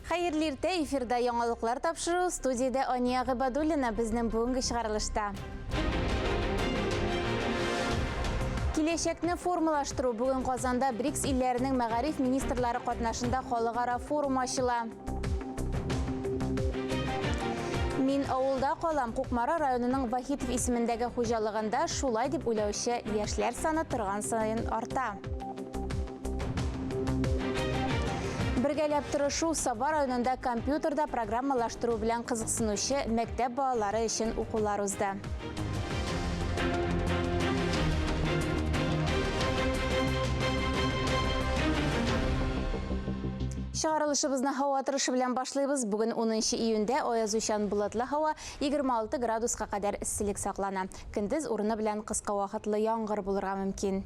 Хәерле иртә, эфирда яңалыклар тапшыру, студиядә Ания Гыйбадуллина безнең бүгенге чыгарылышта. Киләчәкне формалаштыру бүген Казанда БРИКС илләренең мәгариф министрлары катнашында халыкара форум ачыла. Мин авылда калам, Кукмара районының Вахитов исемендәге хуҗалыгында шулай дип уйлаучы яшьләр саны торган саен арта. Бергәләп тырышу Саба районында компьютерда программалаштыру белән кызыксынучы мәктәп балалары өчен укулар узды. Чыгарылышыбызны һава торышы белән башлыйбыз. Бүген 10 июньдә аязучан болытлы һава 26 градуска кадәр эсселек саклана. Көндез урыны белән кыска вакытлы яңгыр булырга мөмкин.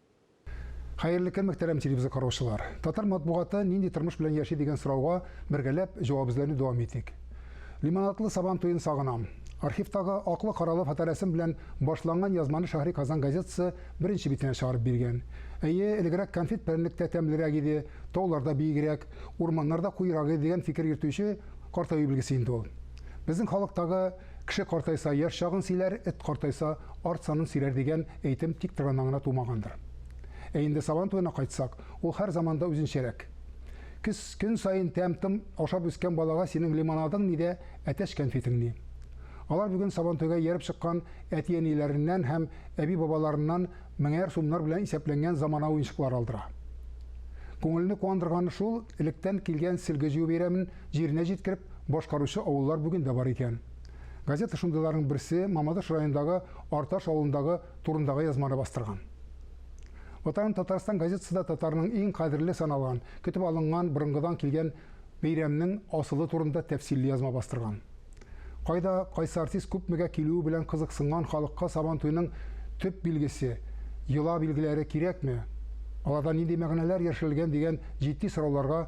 Хәерле көн, мөхтәрәм телевизор караучылар! Татар матбугаты нинди тормыш белән яши дигән сорауга бергәләп җавап эзләүне дәвам итик. Лимонадлы Сабан туен сагынам. Архивтагы аклы-каралы фоторәсем белән башланган язманы Шәһри Казан газетасы беренче битенә чыгарып биргән. Әйе, элегрәк конфет-прәннек тә тәмлерәк иде, тауларда биегрәк, урманнарда куерак иде дигән фикер йөртүче картаю билгесе инде ул. Безнең халыктагы Кеше картайса, яшь чагын сөйләр, эт картайса, арт санын сөйләр дигән әйтем тик Тырнан гына тумагандыр. Ә инде Сабан туена кайтсак, ул һәр заманда үзенчәрәк. Көз көн саен тәм-том ашап үскән балага синең лимонадың ни дә әтәч кәнфитең ни. Алар бүген Сабантуйга ияреп чыккан әти-әниләреннән һәм әби-бабаларыннан меңәр сумнар белән исәпләнгән замана уенчыклары алдыра. Күңелне куандырганы шул, электән килгән сөлге җыю бәйрәмен җиренә җиткереп, башкаручы авыллар бүген дә бар икән. Газета шундыйларның берсе Мамадыш районындагы Арташ авылындагы турындагы язманы бастырган. Ватаным Татарстан газетасы да татарның иң кадерле саналган, көтеп алынган борынгыдан килгән бәйрәмнең асылы турында тәфсилле язма бастырган. Кайда кайсы артист күпмегә килүе белән кызыксынган халыкка Сабантуйның төп билгесе, йола билгеләре кирәкме, аларда нинди мәгънәләр яшерелгән дигән җитди сорауларга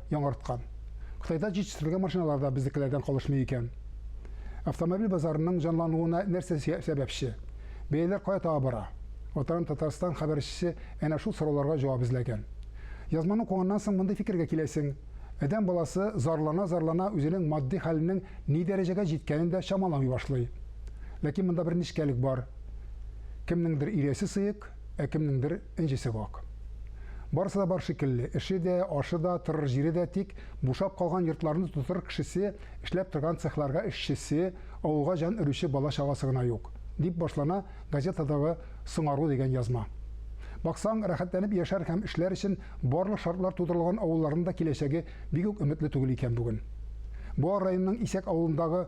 яңарткан. Кытайда җитештерелгән машиналар да безнекеләрдән калышмый икән. Автомобиль базарының җанлануына нәрсә сәбәпче? Бәяләр кая таба бара? Атырам Татарстан хәбәрчесе әнә шул сорауларга җавап эзләгән. Язманы укыганнан соң мондый фикергә киләсең, адәм баласы зарлана-зарлана үзенең матди хәленең ни дәрәҗәгә җиткәнен дә чамаламый башлый. Ләкин монда бер нечкәлек бар, кемнеңдер иресе сыек, Ә кемнеңдер энҗесе вак. Барысы да бар шикелле, эше дә, ашы да, торыр җире дә, тик бушап калган йортларны тутырыр кешесе, эшләп торган цехларга эшчесе, авылга җан өрүче бала-чагасы гына юк, дип башлана газетадагы Соңару дигән язма. Баксаң, рәхәтләнеп яшәр һәм эшләр өчен барлык шартлар тудырылган авылларның да киләчәге бик үк өметле түгел икән бүген. Буа районының Исәк авылындагы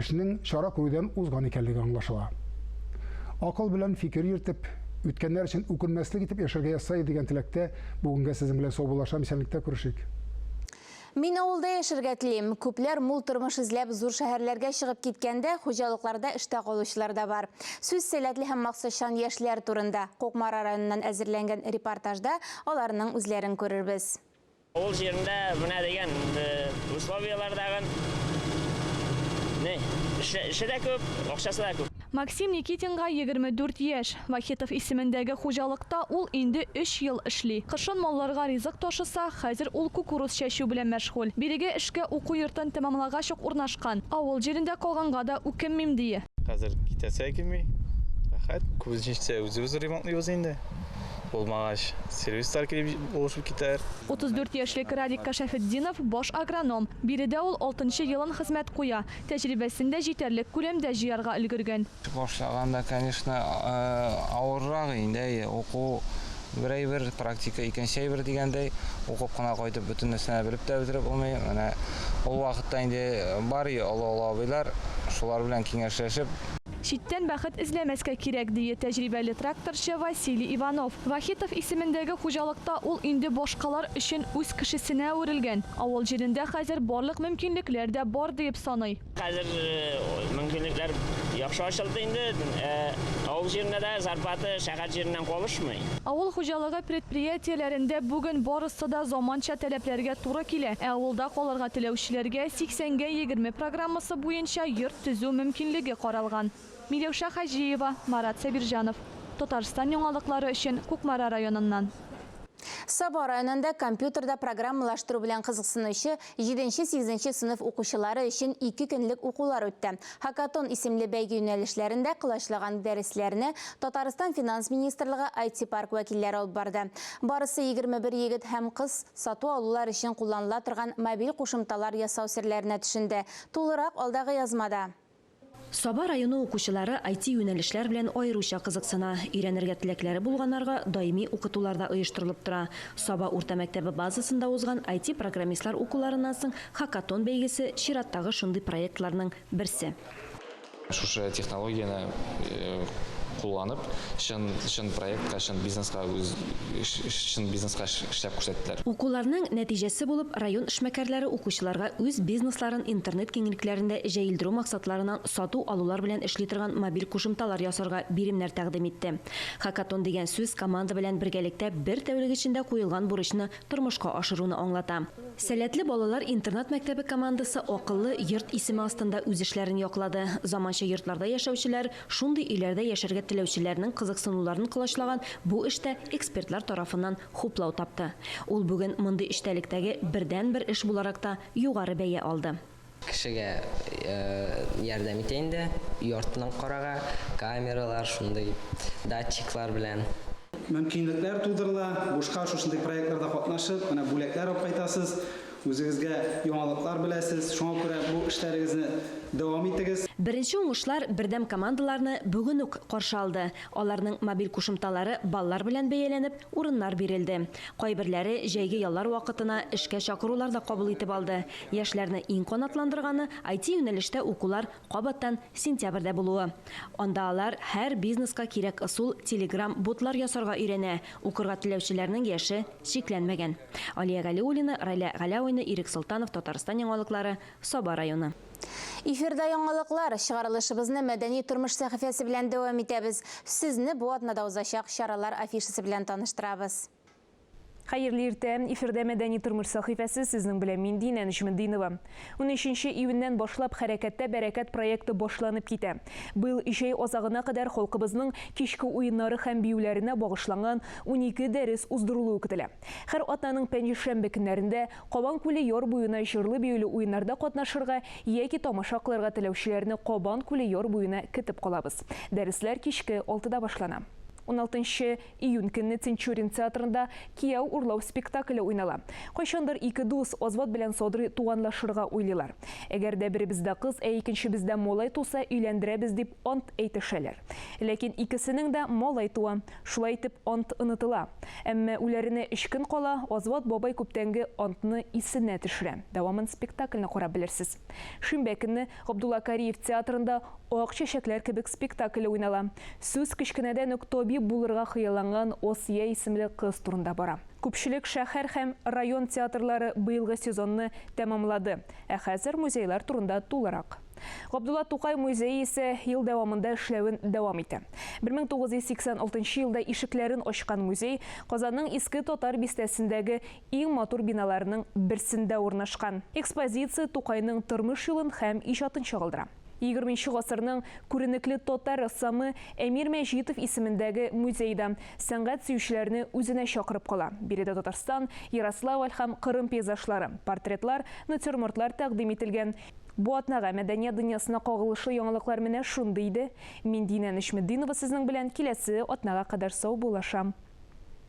Эшнең чара күрүдән узган икәнлеге аңлашыла. Акыл белән фикер йөртеп, үткәннәр өчен үкенмәслек итеп яшәргә язса иде дигән теләктә бүгенгә сезнең белән саубуллашам, исәнлектә күрешик. Мин авылда яшәргә телим. Күпләр мул тормыш эзләп зур шәһәрләргә чыгып киткәндә, хуҗалыкларда эштә калучылар да бар. Сүз сәләтле һәм максатчан яшьләр турында, Кукмара районыннан әзерләнгән репортажда аларның үзләрен күрербез. Авыл җирендә менә дигән условияләр тагын. Не, эше дә күп, акчасы да күп. Максим Никитинга 24 яшь. Вахитов исемендәге хуҗалыкта ул инде өч ел эшли. Кышын малларга ризык ташыса, хәзер ул кукуруз чәчү белән мәшгуль. Бирегә эшкә уку йортын тәмамлагач ук урнашкан. Авыл җирендә калганга да үкенмим, ди. Хәзер китәсе килми, рәхәт. Күбесенчә үзебез ремонтлыйбыз инде. Булмагач, сервислар килеп булышып китәр. 34 яшьлек Радик Кашәфетдинов, баш агроном. Биредә ул алтынчы елын хезмәт куя. Тәҗрибәсен дә җитәрлек күләмдә җыярга өлгергән. Башлаганда, конечно, авыррак инде, әйе, уку бер әйбер, практика икенче әйбер дигәндәй, укып кына кайтып, бөтен нәрсәне белеп тә бетереп булмый. Менә ул вакытта инде бар иде олы-олы абыйлар, шулар белән киңәшләшеп, Читтән бәхет эзләмәскә кирәк, дие тәҗрибәле тракторчы Василий Иванов. Вахитов исемендәге хуҗалыкта ул инде башкалар өчен үз кешесенә әверелгән. Авыл җирендә хәзер барлык мөмкинлекләр дә бар диеп саный. Хәзер мөмкинлекләр яхшы ачылды инде. Авыл җирендә дә зарплата шәһәр җиреннән калышмый. Авыл хуҗалыгы предприятиеләрендә бүген барысы да заманча таләпләргә туры килә, ә авылда калырга теләүчеләргә 80 гә 20 программасы буенча йорт, төзү мөмкинлеге каралган. Миләүшә Хаҗиева, Марат Сабирҗанов, Татарстан яңалыклары өчен Кукмара районыннан. Саба районында компьютерда программалаштыру белән кызыксынучы җиденче-сигезенче сыйныф укучылары өчен ике көнлек укулар үтте. Хакатон исемле бәйге юнәлешләрендә колачлаган дәресләрне Татарстан Финанс министрлыгы IT-парк вәкилләре алып барды. Барысы егерме бер егет һәм кыз сату-алулар өчен кулланыла торган мобиль кушымталар ясау серләренә төшенде, Тулырак алдагы язмада. Саба районы укучылары IT-юнәлешләр белән аеруча кызыксына. Өйрәнергә теләкләре булганнарга даими укытулар да оештырылып тора. Саба урта мәктәбе базасында узган IT-программистлар укуларыннан соң Хакатон бәйгесе чираттагы шундый проектларның берсе. Шушы технологияне кулланып, чын, чын проектка, чын бизнеска үз, чын бизнеска эшләп күрсәттеләр. Укуларның нәтиҗәсе булып, район эшмәкәрләре укучыларга үз бизнесларын интернет киңлекләрендә җәелдерү максатларынан сату-алулар белән эшли торган мобиль кушымталар ясарга биремнәр тәкъдим итте. Хакатон дигән сүз команда белән бергәлектә бер тәүлек эчендә куелган бурычны тормышка ашыруны аңлата. Сәләтле балалар интернат-мәктәбе командасы Акыллы йорт исеме астында үз эшләрен яклады. Заманча йортларда яшәүчеләр, шундый өйләрдә яшәргә теләүчеләрнең кызыксынуларын колачлаган бу эш тә экспертлар тарафыннан хуплау тапты. Ул бүген мондый эчтәлектәге бердәнбер эш буларак та югары бәя алды. Кешегә ярдәм итә инде, өй артыннан карарга, камералар, шундый датчиклар белән. Мөмкинлекләр тудырыла, бушка шушындый проектларда катнашып, менә бүләкләр алып кайтасыз, үзегезгә яңалыклар беләсез, шуңа күрә бу эшләрегезне дәвам итегез. Беренче уңышлар бердәм командаларны бүген үк каршы алды, аларның мобиль кушымталары баллар белән бәяләнеп, урыннар бирелде. Кайберләре җәйге яллар вакытына эшкә чакырулар да кабул итеп алды. Яшьләрне иң канатландырганы, IT-юнәлештә укулар кабаттан сентябрьдә булуы. Анда алар һәр бизнеска кирәк ысул Telegram ботлар ясарга өйрәнә, укырга теләүчеләрнең яше чикләнмәгән. Алия Галиуллина, Райлә Галәуина, Ирек Солтанов, Татарстан яңалыклары, Саба районы. Эфирда яңалыклар, чыгарылышыбызны Мәдәни тормыш сәхифәсе белән дәвам итәбез. Сезне бу атнада узачак чаралар афишасы белән таныштырабыз. Хәерле иртә! Эфирдә Мәдәни тормыш сәхифәсе, сезнең белән мин, Динә Нечметдинова. Унөченче июньнән башлап Хәрәкәттә бәрәкәт проекты башланып китә. Быел җәй азагына кадәр халкыбызның кичке уеннары һәм биюләренә багышланган унике дәрес уздырылуы көтелә. Һәр атнаның пәнҗешәмбе көннәрендә Кабан күле яр буена җырлы-биюле уеннарда катнашырга яки тамаша кылырга теләүчеләрне Кабан күле яр буена көтеп калабыз. Дәресләр кичке алтыда башлана. Уналтынчы Июнь көнне Тинчурин театрында Кияү урлау спектакле уйнала. Кайчандыр ике дус, Азбат белән Садрый туганлашырга уйлыйлар. Әгәр дә беребездә кыз, ә икенчебездә малай туса, өйләндерәбез дип ант әйтешәләр. Ләкин икесенең дә малай туа. Шулай итеп, ант онытыла. Әмма үләренә өч көн кала, Азбат бабай күптәнге антны исенә төшерә. Дәвамын спектакльне карап белерсез. Шимбә көнне Габдулла Кариев театрында Ак чәчәкләр кебек спектакле уйнала. Сүз кечкенәдән үк табиб булырга хыялланган Асия исемле кыз турында бара. Күпчелек шәһәр һәм район театрлары быелгы сезонны тәмамлады, ә хәзер музейлар турында тулырак. Габдулла Тукай музее исә ел дәвамында эшләвен дәвам итә. 1986 елда ишекләрен ачкан музей Казанның Иске Татар бистәсендәге иң матур биналарының берсендә урнашкан. Экспозиция Тукайның тормыш юлын һәм иҗатын чагылдыра. Егерменче гасырның күренекле татар рәссамы Әмир Мәҗитов исемендәге музей да сәнгать сөючеләрне үзенә чакырып кала, биредә Татарстан, Ярославль һәм Кырым пейзажлары, портретлар, натюрмортлар тәкъдим ителгән. Бу атнага мәдәният дөньясына кагылышлы яңалыклар менә шундый иде. Мин Динә Нәҗметдинова сезнең белән киләсе атнага кадәр сау булышам.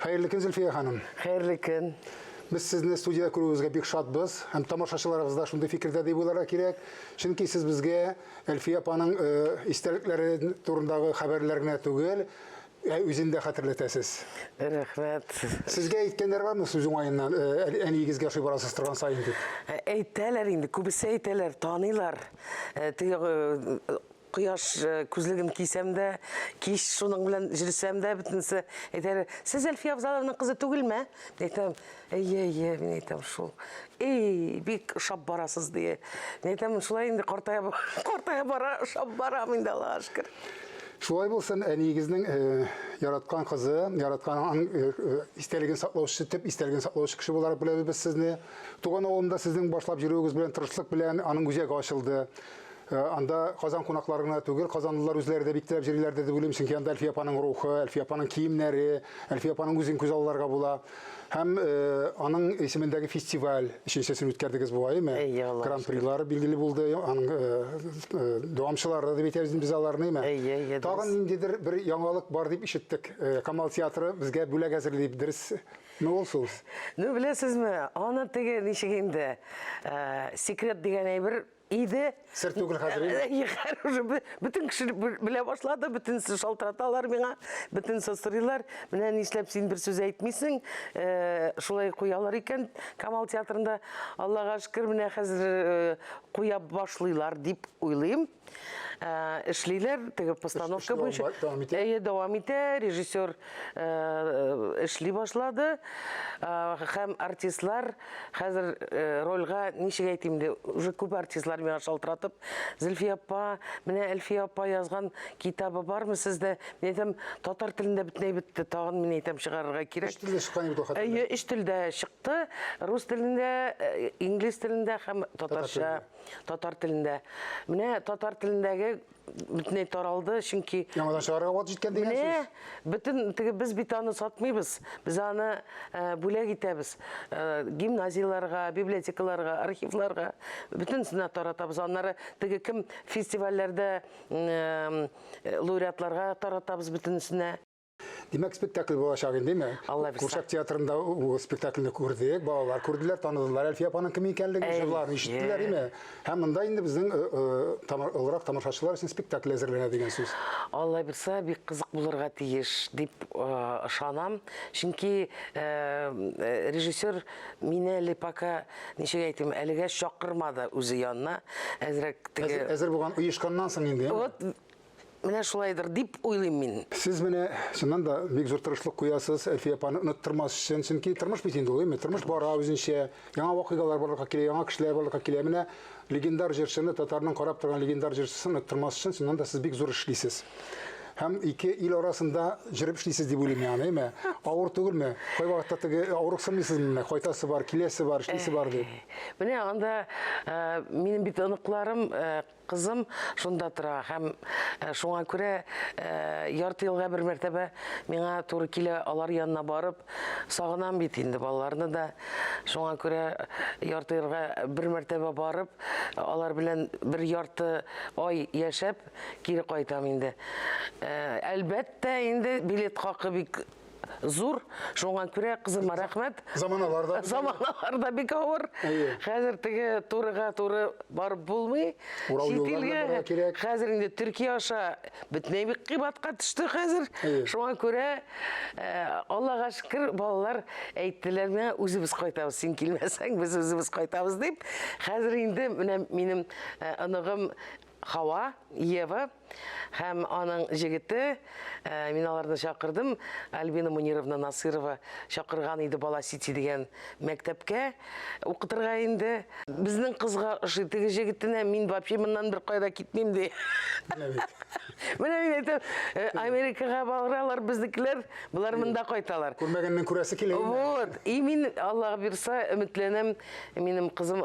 Хәерле көн, Зөлфия ханым. Хәерле көн. Без сезне студияда күрүебезгә бик шатбыз һәм тамашачыларыбыз да шундый фикердә дип уйларга кирәк. Чөнки сез безгә Әлфия апаның э, истәлекләре турындагы хәбәрләр генә түгел, ә үзен дә хәтерләтәсез. Рәхмәт. Сезгә әйткәннәр бармы сүз уңаеннан, э, әниегезгә ошый барасыз торган сайын дип? Ә, Әйтәләр инде, күбесе әйтәләр, таныйлар. Ә, Теге э, Кояш күзлеген кисәм дә, кич шуның белән җөрсәм дә, бөтенесе әйтәләр, сез Әлфия Авзалованың кызы түгелме? Мин әйтәм, әйе, әйе, мин әйтәм, шул. Эй, бик ошап барасыз, ди. Мин әйтәм, шулай инде картая, картая бара, ошап барам инде, Аллаһ шөкер. Шулай булсын, әниегезнең э, яраткан кызы, яраткан э, э, истәлеген саклаучысы, төп истәлеген саклаучы кеше буларак беләбез без сезне. Туган авылында сезнең башлап йөрүегез белән, тырышлык белән аның үзәге ачылды. Э, анда Казан кунаклары гына түгел, казанлылар үзләре дә бик теләп җырлыйлардыр дип уйлыйм, чөнки анда Әлфия апаның рухы, Әлфия апаның киемнәре, Әлфия апаның үзен күз алларга була. Һәм э, аның исемендәге фестиваль, өченчесен үткәрдегез бугай, әйме? Әйе, Аллаһ Гран-прилары билгеле булды, аның э, э, дәвамчылары дип әйтәбез без аларны, әйме? Әйе, әйе, дөрес. Тагын ниндидер бер яңалык бар дип ишеттек. Э, Камал театры безгә бүләк әзерли дип, дөресме ул сүз? Ну, беләсезме, аны теге ничек инде, э, секрет дигән әйбер иде. Сер түгел хәзер инде. Э, хәзер уже бөтен кеше белә башлады, бөтенесе шалтыраталар миңа, бөтенесе сорыйлар. Менә нишләп син бер сүз әйтмисең? Э, шулай куялар икән Камал театрында. Аллага шөкер, менә хәзер э, куя башлыйлар дип уйлыйм. Эшлиләр, теге постановка буенча. Әйе, дәвам итә. Режиссер эшли башлады. Һәм артистлар Хәзер э, рольга ничек әйтим инде, уже күп артистлар миңа шалтыратып, Зөлфия апа, менә Әлфия апа язган китабы бармы сездә? Мин әйтәм, татар телендә бөтенләй бетте, тагын мин әйтәм чыгарырга кирәк. Өч телдә чыккан бит хәтта. Әйе, өч телдә чыкты. Рус телендә, э, инглиз телендә һәм татарча, татар телендә. Менә татар телендәге бөтенләй таралды, чөнки Яңадан чыгарга вакыт җиткән дигән сүз. Менә бөтен теге без бит аны сатмыйбыз. Без аны э, бүләк итәбез. Э, гимназияләргә, библиотекаларга, архивларга бөтенесенә таратабыз. Аннары теге кем фестивальләрдә э, лауреатларга таратабыз бөтенесенә. Димәк, спектакль булачак инде, ме? Курчак театрында ул спектакльне күрдек, балалар күрделәр, таныдылар Әлфия апаның кем икәнлеген, җырларын ишеттеләр, име? Һәм монда инде безнең э, э, олырак тамашачылар өчен спектакль әзерләнә дигән сүз. Алла бирса, бик кызык булырга тиеш дип э, ышанам. Чөнки режиссер мине әле пока ничек әйтим, әлегә чакырмады үзе янына. Әзрәк теге Әзер булган оешканнан соң инде. Вот Менә шулайдыр дип уйлыйм мин. Сез менә чыннан да бик зур тырышлык куясыз, Әлфия апаны оныттырмас өчен, чөнки тормыш бит инде ул, әйме? Тормыш бара үзенчә, яңа вакыйгалар барлыкка килә, яңа кешеләр барлыкка килә. Менә легендар җырчыны, татарның карап торган легендар җырчысын оныттырмас өчен, чыннан да сез бик зур эш эшлисез. Һәм ике ил арасында җырып эшлисез дип уйлыйм мин аны, әйме? Авыр түгелме? Кайвакытта теге авырыксынмыйсыз мени, кайтасы бар, киләсе бар, эшлисе бар дип? Менә анда минем бит оныкларым Кызым шунда тора һәм шуңа күрә ярты елга бер мәртәбә миңа туры килә алар янына барып, сагынам бит инде балаларны да. Шуңа күрә ярты елга бер мәртәбә барып, алар белән бер ярты ай яшәп, кире кайтам инде. Әлбәттә, инде билет хакы бик зур. Шуңа күрә кызыма рәхмәт. Заманалар да заманалар да бик авыр. Хәзер теге турыга туры барып булмый. Чит илгә кирәк. Хәзер инде Төркия аша бөтенләй бик кыйбатка төште хәзер. Шуңа күрә э, Аллага шөкер, балалар әйттеләр миңа, үзебез кайтабыз, син килмәсәң, без үзебез кайтабыз дип. Хәзер инде менә минем э, оныгым Хава, Ева, һәм аның җегете, э, мин аларны чакырдым, Альбина Мунировна Насырова чакырган иде Бала Сити дигән мәктәпкә укытырга инде. Безнең кызга ошый теге җегетенә, мин вообще моннан бер кайда китмим ди. Менә мин әйтәм, э, Америкага баралар безнекеләр, болар монда кайталар. Күрмәгәннең күрәсе килә. Вот. И мин Аллага бирса, өметләнәм, минем кызым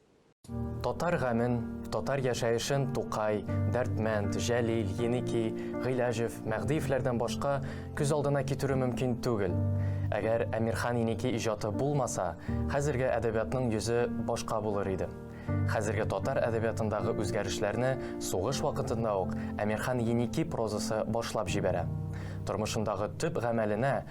Татар гамен, татар яшәешен Тукай, Дәрдмәнд, Җәлил, Еники, Гыйләҗев, Мәгъдиевләрдән башка күз алдына китерү мөмкин түгел. Әгәр Әмирхан Еники иҗаты булмаса, хәзерге әдәбиятның йөзе башка булыр иде. Хәзерге татар әдәбиятындагы үзгәрешләрне сугыш вакытында ук Әмирхан Еники прозасы башлап җибәрә. Тормышындагы төп гамәленә,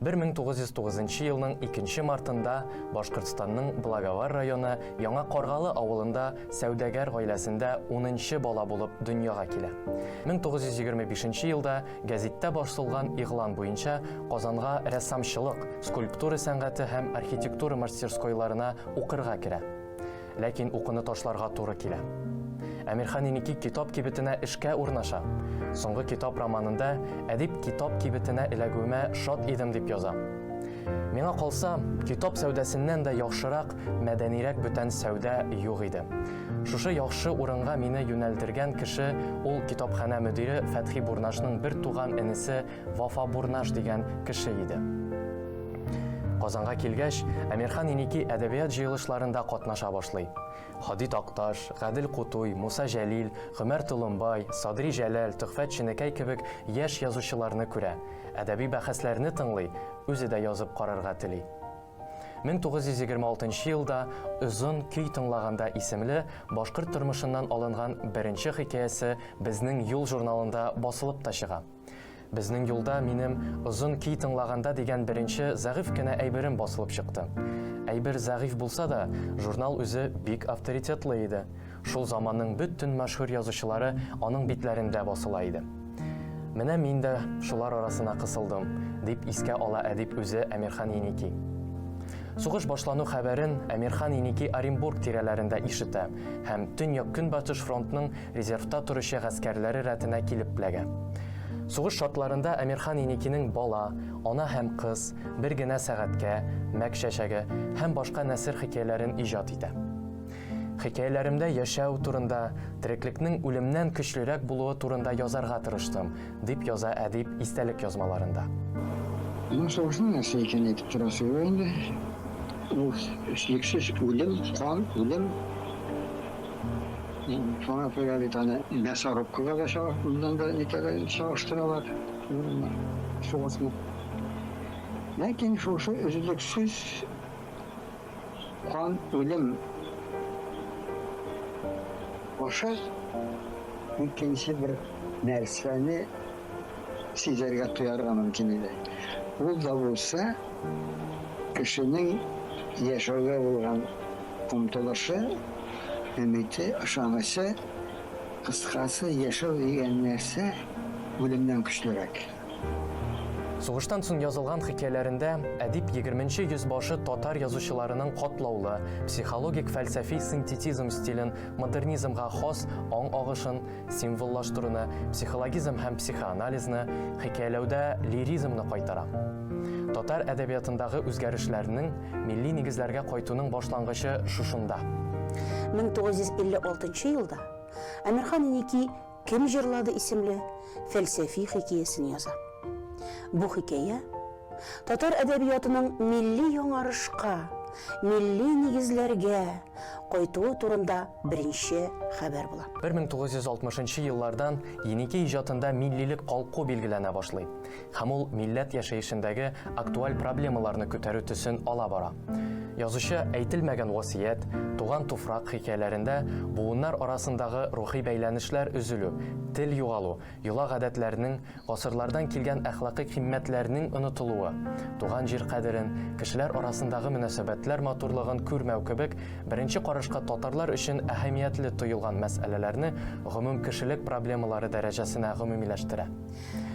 1909 нчы елның 2 нче мартында Башкортстанның Благовар районы Яңа Каргалы авылында сәүдәгәр гаиләсендә унынчы бала булып дөньяга килә. 1925 нче елда гәзиттә басылган игълан буенча Казанга рәссамчылык, скульптура сәнгате һәм архитектура мастерскойларына укырга керә. Ләкин укуны ташларга туры килә. Әмирхан Еники китап кибетенә эшкә урнаша. Соңгы китап романында әдип китап кибетенә эләгүемә шат идем дип яза. Миңа калса, китап сәүдәсеннән дә яхшырак, мәдәнирәк бүтән сәүдә юк иде. Шушы яхшы урынга мине юнәлдергән кеше ул китапханә мөдире Фәтхи Бурнашның бер туган энесе Вафа Бурнаш дигән кеше иде. Казанга килгәч, Әмирхан Иники әдәбият җыелышларында катнаша башлый. Хади Такташ, Гадел Кутуй, Муса Җәлил, Гомәр Толымбай, Садри Җәләл, Төхфәт Чинекәй кебек яшь язучыларны күрә, әдәби бәхәсләрне тыңлый, үзе дә язып карарга тели. 1926 елда Озын көй тыңлаганда исемле башкорт тормышыннан алынган беренче хикәясе Безнең юл журналында басылып та чыга. Безнең юлда минем Озын ки тыңлаганда дигән беренче зәгыйфь кенә әйберем басылып чыкты. Әйбер зәгыйфь булса да, журнал үзе бик авторитетлы иде. Шул заманның бөтен мәшһүр язучылары аның битләрендә басыла иде. Менә мин дә шулар арасына кысылдым, дип искә ала әдип үзе Әмирхан Еники. Сугыш башлану хәбәрен Әмирхан Еники Оренбург тирәләрендә ишетә һәм Төньяк-Көнбатыш фронтның резервта торучы гаскәрләре рәтенә килеп пләгә. Сугыш шартларында Әмирхан Еникинең бала, ана һәм кыз, бер генә сәгатькә, мәк чәчәге һәм башка нәсер хикәяләрен иҗат итә. Хикәяләремдә яшәү турында, тереклекнең үлемнән көчлерәк булуы турында язарга тырыштым, дип яза әдип истәлек язмаларында. Бу сугышның нәрсә икәнен әйтеп торасы юк инде. Ул, эчлексез үлем, кан, үлем. Шуңа күрә бит аны мясорубкага да моннан да никогда чагыштыралар. Шугасмы? Ләкин шушы өзлексез кан үлем аша икенче бер нәрсәне сизәргә, тоярга мөмкин иде. Ул да булса, Кешенең яшәүгә булган омтылышы, өмите, ышанычы, кыскасы, яшәү дигән нәрсә үлемнән көчлерәк. Сугыштан соң язылган хикәяләрендә әдип егерменче йөз башы татар язучыларының катлаулы, психологик-фәлсәфи синтетизм стилен, модернизмга хас аң агышын, символлаштыруны, психологизм һәм психоанализны, хикәяләүдә лиризмны кайтара. Татар әдәбиятындагы үзгәрешләрнең милли нигезләргә кайтуның башлангычы шушында. 1956 елда Әмирхан Инеки Кем җырлады исемле фәлсәфи хикәясен яза. Бу хикәя Татар әдәбиятының милли яңарышка, милли нигезләргә кайтуы турында беренче хәбәр була. 1960 нчы еллардан Еники иҗатында миллилек калку билгеләнә башлый һәм ул милләт яшәешендәге актуаль проблемаларны күтәрү төсен ала бара. Язучы Әйтелмәгән васыять, Туган туфрак хикәяләрендә буыннар арасындагы рухи бәйләнешләр өзелү, тел югалу, йола гадәтләрнең, гасырлардан килгән әхлакый кыйммәтләрнең онытылуы, туган җир кадерен, кешеләр арасындагы мөнәсәбәтләр матурлыгын күрмәү кебек беренче карашка татарлар өчен әһәмиятле тоелган мәсьәләләрне гомумкешелек проблемалары дәрәҗәсенә гомумиләштерә.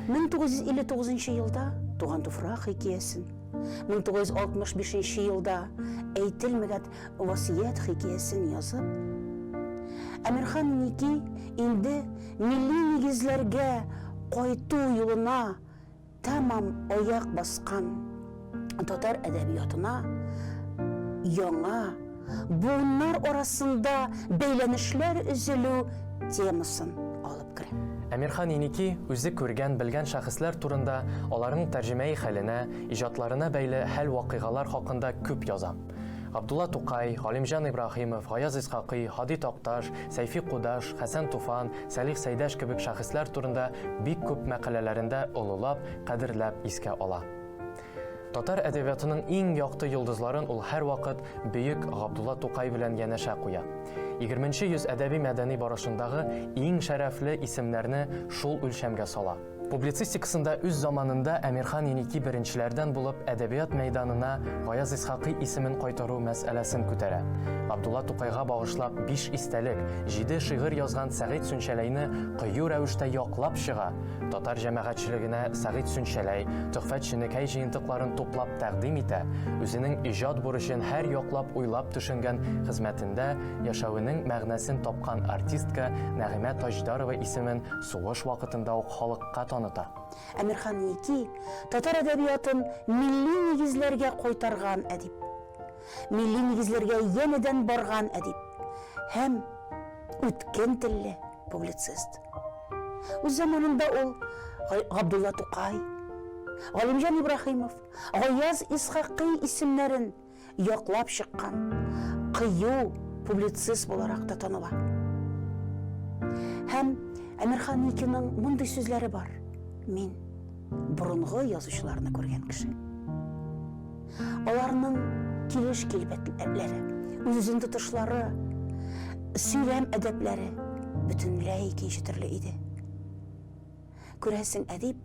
1959 елда Туган туфрак хикәясен, 1965 елда Әйтелмәгәт васыять хикәясен язып, Әмирхан Ники инде Милли нигезләргә кайту юлына тәмам аяк баскан татар әдәбиятына яңа, буыннар арасында бәйләнешләр өзелү темасын алып керә. Әмирхан Еники үзе күргән, белгән шәхесләр турында, аларның тәрҗемәи хәленә, иҗатларына бәйле хәл-вакыйгалар хакында күп яза. Габдулла Тукай, Галимҗан Ибраһимов, Гаяз Исхакый, Һади Такташ, Сәйфи Кудаш, Хәсән Туфан, Сәлих Сәйдәш кебек шәхесләр турында бик күп мәкаләләрендә олылап, кадерләп искә ала. Татар әдәбиятының иң якты йолдызларын ул һәрвакыт бөек Габдулла Тукай белән янәшә куя. 20 йөз әдәби-мәдәни барышындагы иң шәрәфле исемнәрне шул үлчәмгә сала. Публицистикасында үз заманында Әмирхан Еники беренчеләрдән булып әдәбият мәйданына Гаяз Исхакый исемен кайтару мәсьәләсен күтәрә. Габдулла Тукайга багышлап биш истәлек, җиде шигырь язган Сәгыйть Сүнчәләйне кыю рәвештә яклап чыга, татар җәмәгатьчелегенә Сәгыйть Сүнчәләй, Төхфәт Ченекәй җыентыкларын туплап тәкъдим итә, үзенең иҗат бурычын һәр яклап уйлап төшенгән, хезмәтендә яшәвенең мәгънәсен тапкан артистка Нәгыймә Таҗдарова исемен Сугыш вакытында ук халыкка таныта. Әмирхан Ники, татар әдәбиятын милли нигезләргә кайтарган әдип. Милли нигезләргә янәдән барган әдип һәм үткен телле публицист. Үз заманында ул Габдулла Тукай, Галимҗан Ибраһимов, Гаяз Исхакый исемнәрен яклап чыккан кыю публицист буларак та таныла. Һәм Әмирхан Никиның мондый сүзләре бар. Мин борынгы язучыларны күргән кеше. Аларның килеш килбәтләре, үзен тотышлары, сөйләм әдәпләре бөтенләй икенче төрле иде. Күрәсең, әдип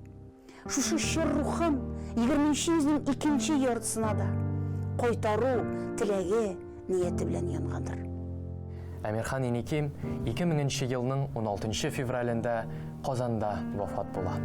Шушы чор рухым егерменче йөзнең икенче яртысына да кайтару теләге, нияте белән янгандыр. Әмирхан Еникин ике меңенче елның уналтынчы февралендә Казанда вафат була.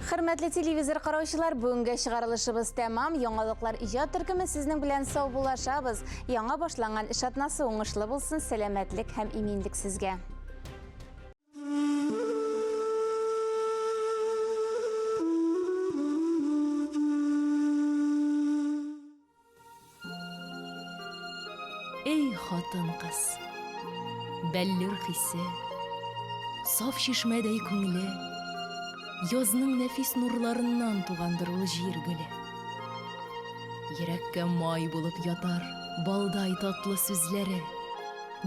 Хөрмәтле телевизор караучылар, бүгенге чыгарылышыбыз тәмам. Яңалыклар иҗат төркеме сезнең белән сау булашабыз. Яңа башланган эш атнасы уңышлы булсын, сәламәтлек һәм иминлек сезгә. Эй, хатын-кыз, бәллүр хисе, саф чишмәдәй күңеле, язның нәфис нурларыннан тугандыр ул җир гөле. Йөрәккә май булып ятар балдай татлы сүзләре,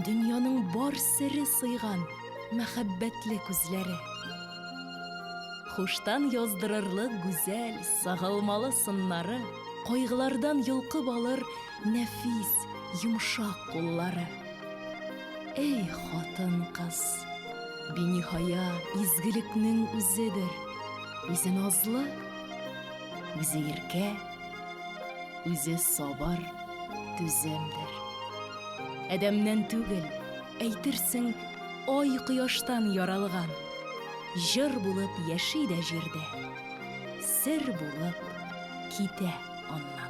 дөньяның бар сере сыйган мәхәббәтле күзләре. Хуштан яздырырлык гүзәл Сагылмалы сыннары, кайгылардан йолкып алыр нәфис, йомшак куллары. Эй, хатын-кыз, биниһая изгелекнең үзедер, үзе назлы, үзе иркә, үзе сабыр, түземдер. Адәмнән түгел, әйтерсең, ай-кояштан яралган, җыр булып яши дә җирдә. Сер булып китә аннан.